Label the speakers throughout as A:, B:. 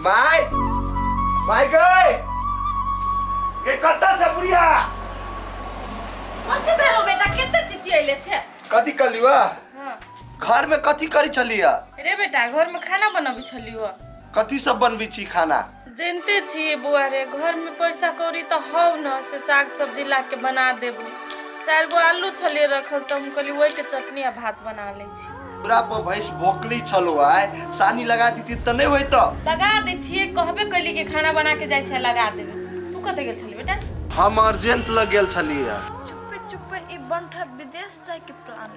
A: भाई भाई गए के कत्ता से बुढ़िया कथी भेलो
B: बेटा केते चिची आइले छे कथी कर लिवा
A: हाँ।
B: घर में कथी
A: करी छलिया रे बेटा घर
B: में खाना बनबी छलियो कथी सब बनबी
A: छी खाना जनिते छियै
B: बौआ रे घरमे पैसा कौड़ी तऽ हौ ने से साग सब्जी ला के बना देबू चारि गो आलू छलियै रखल तऽ हम कहली ओहिके चटनी आ भात बना लै छी पूरा पर भैंस
A: भोकली छलो आय सानी लगा दीती तऽ नहि होइत लगा दै छियै
B: कहबे कैली कि खाना बना के जाइ छै लगा देबै तू कतऽ गेल छली बेटा हम अर्जेंट
A: लग गेल छलियै चुप्पे चुप्पे
C: ई बंठा विदेश जाए के प्लान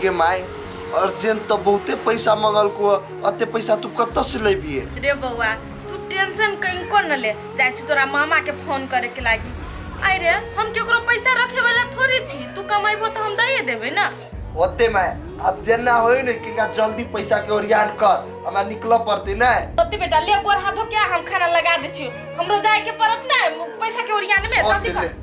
C: के माय
A: अर्जेंट तो बहुते पैसा मंगल को अते पैसा तू कत्ता से लेबिए रे बौआ
B: तू टेंशन कनिको न ले जाइ छी तोरा मामा के फोन करे के लागी आइ रे हम केकरो पैसा रखे वाला थोड़ी छी तू कमेबो तो हम दइए देबे ना ओते माय
A: अब जेना होई ने किनका जल्दी पैसा के ओरियान कर हमरा निकल पड़ते ना ओते बेटा ले गोर
B: हाथो क्या हम खाना लगा दे छी हमरो जाए के पड़त ना पैसा के ओरियान में ओते जल्दी ले कर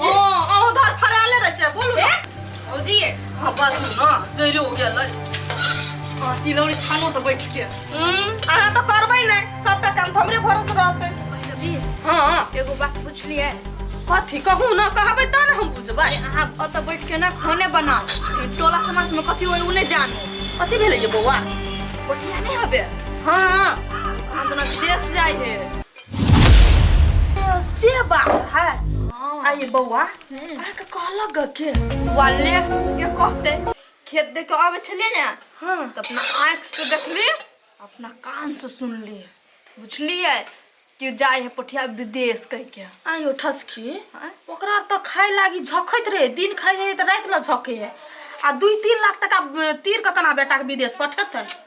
B: हाँ अहो धर फराले रह छै बोलू ए भौजी ये हाँ बात सुन ना जैरे हो गेल है हाँ तिलौरी छानो तो बैठ के हम्म अहाँ तो करबै नहीं सबटा काम तो हमरे भरोसे रहतै भौजी हाँ
C: एगो बात
B: पूछलिए
C: कथी कहू
B: ना कहबै तब ना हम बुझबै अहाँ ओतऽ बैठ के
C: ना खाने बनाओ ई टोला समाज में कथी होय उ नहि जानो कथी भेलै ये बौआ
B: बढ़िया नहि
C: हबे हाँ
B: आंदोलन
C: देश जाय हे
B: से बात है आ ये बौआ अहाँ के कहलक ग के वाले
C: के कहते खेत देख के आवे छलिए ने हाँ तो अपना
B: आँख
C: से देखली अपना कान से सुनली बुझलिए कि जाए है पठिया विदेश कह के आयो ठसकी
B: आँय? ओकरा तो खाए लागी झखैत रहे दिन खाए रहे तो रात ला झके है आ दुई तीन लाख टका अ, तीर के कना बेटा के विदेश पठेतै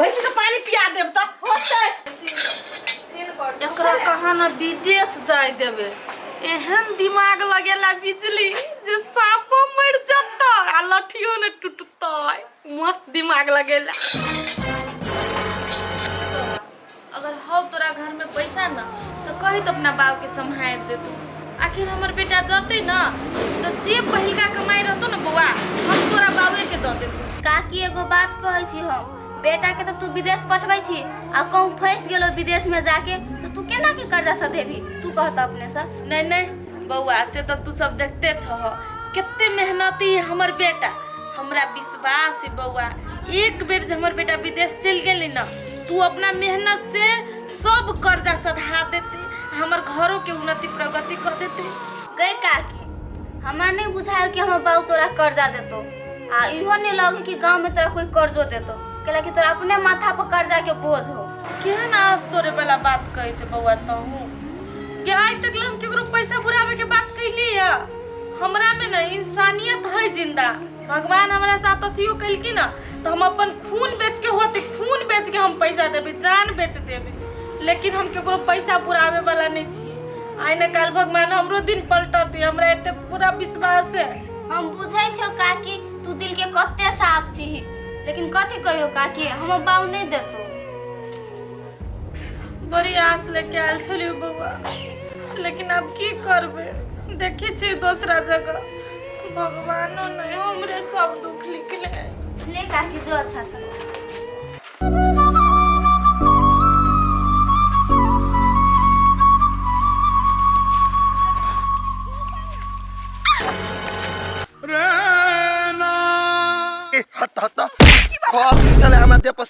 B: भैंसी के पानी पिया देब त होतै
C: एकरा
B: कहा ना विदेश जाय देबे एहन दिमाग लगेला बिजली जे सापो मर जतऽ आ लठियो ने टूटतै मस्त दिमाग लगेला अगर हौ तोरा घर में पैसा न तो कही तो अपना बाप के संभाल दे तू आखिर हमर बेटा जते न तो जे पहिलका कमाई रहतो न बौआ हम तोरा बाबे के दऽ देबो काकी एगो बात
D: कहै छी हम बेटा के तऽ तू विदेश पठबै छी आ कहूँ फँसि गेलो विदेश में जाके तऽ तू केना के कर्जा सधेबी तू कह तऽ अपने से नहीं नहीं
B: बौआ से तो तू सब देखते छह कितने मेहनती है हमर बेटा हमरा विश्वास है बौआ एक बेर जे हमर बेटा विदेश चल गेली न तू अपना मेहनत से सब कर्जा सधा देते हमर घरों के उन्नति प्रगति कर देते गए काकी
D: हमरा नहीं बुझायो कि हमर बाबू तोरा कर्जा देतो आ इहो नहीं लगे कि गांव में तोरा कोई कर्जो देतो कैला कि तोरा अपने माथा पर कर्जा के बोझ हो केहन आज तोरे
B: वाला बात कहै छै बौआ तहूँ कि आइ तक ले हम केकरो पैसा बुराबे के बात कैली है हमरा में ना इंसानियत है जिंदा भगवान हमारा साथ अथियो कलकी ना तो हम अपन खून बेच के होते खून बेच के हम पैसा देवे जान बेच देवे लेकिन हम केकरो पैसा पुरावे वाला नहीं छी आइ न काल भगवान हमरो दिन पलटते हमरा एते पूरा विश्वास है हम बुझै छौ
D: काकी तू दिल के कते साफ छी लेकिन कथी कहियो काकी हमर बाऊ नहीं देतो
B: बड़ी आस लेके आयल छलियै बौआ लेकिन आब की करबै देखै छी दोसरा जगह भगवानो नहि हमरे सब दुख लिखले है ले काकी जो
D: अच्छा से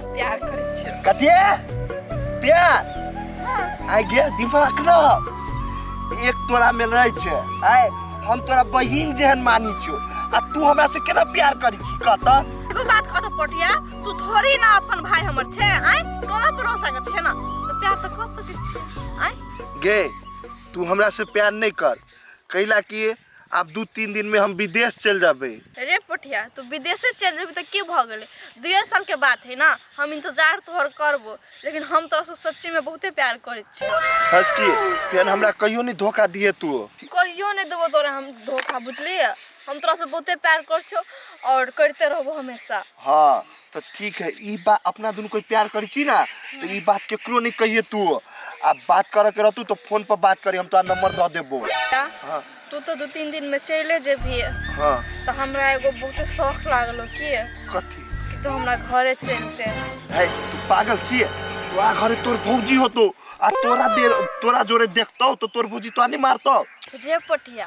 C: प्यार करै छियै कते
A: प्यार आइ गे दिमाग न एक तोरा में रहे छै आइ हम तोरा बहिन जेहन मानी छियो आ तू हमरा से केना प्यार करै छी कहत एगो बात कहतो
C: पोटिया तू थोड़ी ना अपन भाई हमर छे आय तोरा भरोसा के छे ना तो प्यार तो कर सके छे आय गे
A: तू हमरा से प्यार नहीं कर कैला कि आब दू तीन दिन में हम विदेश चल जाबे रे पोठिया
C: तू विदेशे चल जेबी तो की भ गए दुए साल के बात है ना हम इंतजार तोहर करबो लेकिन हम तोरा से सच्ची में बहुते प्यार करे छी हंस की
A: फेन हमरा कहियो नहीं धोखा दिए तू कहियो नहीं देबो
C: तोरा हम धोखा बुझलिए हम तोरा से बहुते प्यार कर छो और करते रहबो हमेशा हाँ तऽ
A: ठीक है ई बात अपना दुनू कोई प्यार करै छी ना तऽ ई बात केकरो नहीं कहिए तू आ बात करे के रहतू तो फोन पर बात करी हम तोरा नंबर दऽ देबो बेटा हाँ। तू
C: तो दू तीन दिन में चले जेबही हाँ तो
A: हमरा एगो
C: बहुते शौक लागलो कि कथी कि तू
A: हमरा घरे
C: चलते है तू
A: पागल छिए तोरा घरे तोर भौजी होतो आ तोरा देर तोरा जोरे देखतो तो तोर भौजी तोरा नहीं मारतो रे पटिया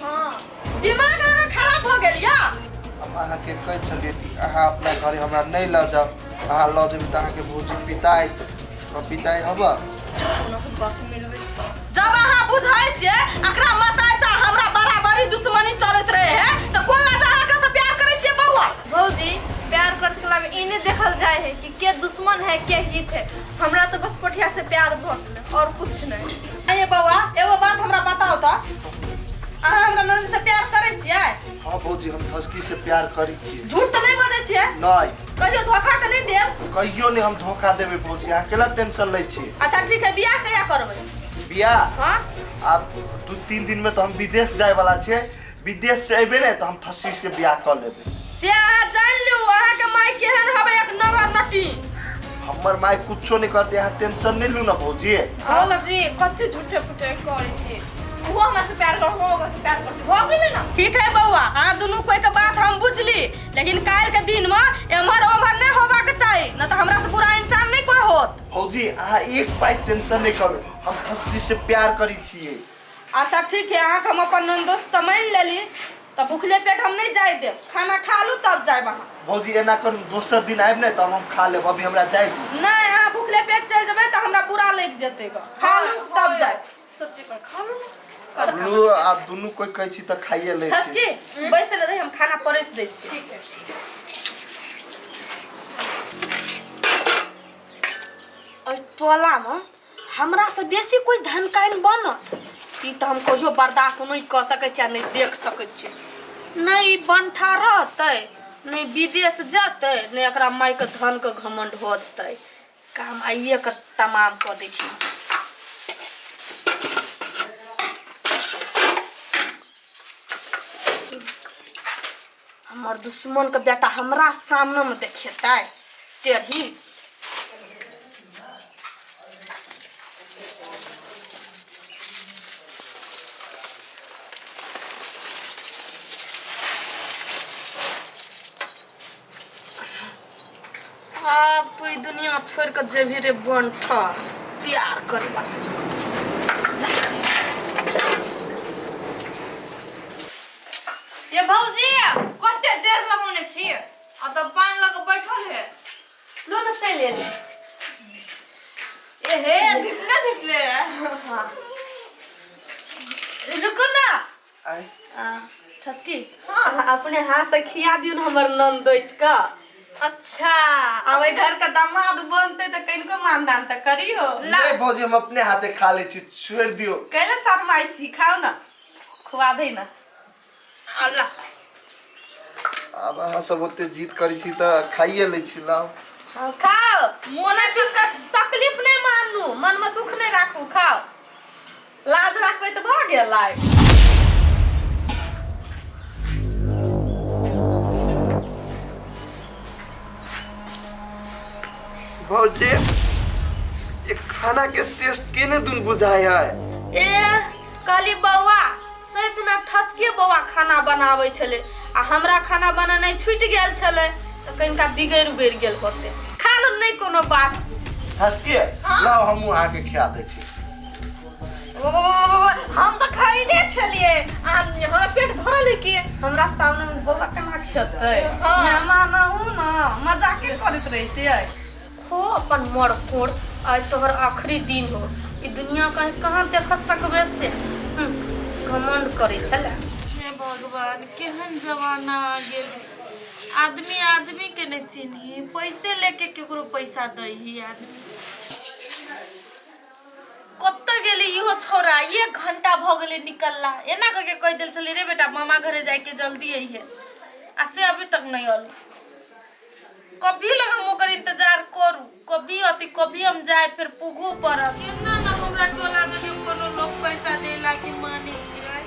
B: हाँ
C: दिमाग अगर खराब
B: हो गेल या हम अहाँके
A: कहै छलियै कि अहाँ अपना घरे हमरा नहि लऽ जाउ अहाँ लऽ जेबै तऽ अहाँके भौजी पिताइ हम पिताइ हबऽ
B: जब अहाँ बुझै छियै एकरा मताइ से हमरा बराबरी दुश्मनी चलैत रहे है तो कोन लगा अहाँ एकरा से प्यार करै छियै बौआ भौजी
C: प्यार करत कला में ई नहीं देखल जाए है कि के दुश्मन है के हित है हमरा तो बस कोठिया से प्यार भऽ गेल और कुछ नहीं अरे बौआ
B: एगो बात हमरा बताओ तो अहाँ हमरा ननद से प्यार करै छियै हाँ भौजी हम
A: धसकी से प्यार करी छी झूठ तऽ नहि बजै छियै
B: नहीं कहियो
A: धोखा तऽ नहि
B: देब कहियो ने हम धोखा
A: देबे भौजी अहाँ केला टेंशन लै छी अच्छा ठीक है बियाह कहिया
B: करबै बियाह
A: हाँ आब
B: दू
A: तीन दिन में तो हम विदेश जाए वाला छे विदेश से अबे ने तो हम धसकी से बियाह कर लेबे से अहाँ जानि
B: लियौ अहाँके माय केहन हबै एक नंबर नटी हमर
A: माय कुछो नहीं करते अहाँ टेंशन नहीं लू ना भौजी भौजी
C: कते झूठे फूटे करै छी वो हमरा से प्यार करो वो हमरा से प्यार करो हो गेलै ना ठीक है बौआ अहाँ
B: दुनू कोई के बात हम बुझली लेकिन काल के दिन में एम्हर ओम्हर नहीं होबा के चाही न तो हमरा से बुरा इंसान नहीं कोई होत भौजी
A: अहाँ एक पाइ टेंशन नहि करू हम खुशी से प्यार करै छियै अच्छा ठीक
B: है अहाँ के हम अपन नंदोस त मान लेली तो भूखले पेट हम नहीं जाए देब खाना खा लू तब जाए अहाँ भौजी एना करू
A: दोसर दिन आबि ने तब हम खा लेब अभी हमरा जाय दियौ। नहीं अहाँ भूखले पेट
B: चल जेबै तो हमरा बुरा लग जेतै खा लू तब जाए सब्जी पर खा लो कर
A: खा लो। लू आ दुनू कोई कहै छी तऽ खाइए लै छी खसकी बैसल
B: रही हम खाना परस दै छी ठीक है ओहि टोलामे हमरासँ बेसी कोइ धनकाइन बनत ई तऽ हम कहियो बर्दाश्त नहि कऽ सकै छी आ नहि देख सकै छी नहि ई बंठा रहतै नहि विदेश जेतै नहि एकरा मायके धनके घमंड होतै काम आइए एकर तमाम कऽ दै छी हमर दुश्मनके बेटा हमरा सामनेमे देखेतै टेढ़ी अब तू ई दुनिया छोड़ के जेबी रे बंठा प्यार करे
C: ये भौजी कते देर लगौने छी आ तो पान लग बैठल है लो न चल
B: ले ए हे धिपले
C: धिपले रुको ना आय
A: आ ठसकी
B: हाँ
C: अपने हाथ से खिया
B: दियो ना हमर नंदोइस का अच्छा
C: अब ए घर
B: का दामाद बनते तो कनको मानदान तो करियो ला ले भौजी हम अपने
A: हाथे खा ले छी छोड़ दियो कैले शर्माई छी
B: खाओ ना खुआ दे ना
C: अल्लाह
A: अब अहाँ सब ओते जीत करै छी तऽ खाइए लै छी लाओ हाँ, खाओ
B: मोने चीज का तकलीफ नहीं मानू मन में दुख नहीं राखू खाओ लाज राखबै
A: तऽ भऽ गेलै भौजी ये खाना के टेस्ट केने दुन बुझाय है ए
B: कहली बौआ से दिना ठसके बौआ खाना बनाबै छलै आ हमरा खाना बनेनाइ छुटि गेल छलै तऽ कनिका बिगड़ि उगड़ि गेल होते खा लो नहि कोनो बात हसके
A: लाओ हमू आके खिया दै छी
B: ओ हम तऽ खैने छलिए आ हमरा पेट भरल है कि हमरा सामने में बौआ केना खेतै हाँ। मेहमान हूँ ना मजाके करैत रहै छियै खो अपन मरकोड़ आइ तोहर आखिरी दिन हो ई दुनिया कहीं कहाँ देख सकबे से हम्म, घमंड करै छलै हे भगवान
E: केहन जमाना आ गेल आदमी आदमी के नहीं चिन्ही पैसे लेके केकरो पैसा दै ही आदमी कतऽ गेलै इहो छौड़ा एक घंटा भऽ गेलै निकलला एना कऽ के कहि देल छलै रे बेटा मामा घरे जाइके जल्दी अइहे आ से अभी तक नहीं अल कभी लग हम ओकर इंतजार करू कभी अति कभी हम जाए फिर पुगू पड़ब केना ना हमरा टोला में कोनो लोग पैसा दे लागी माने छियै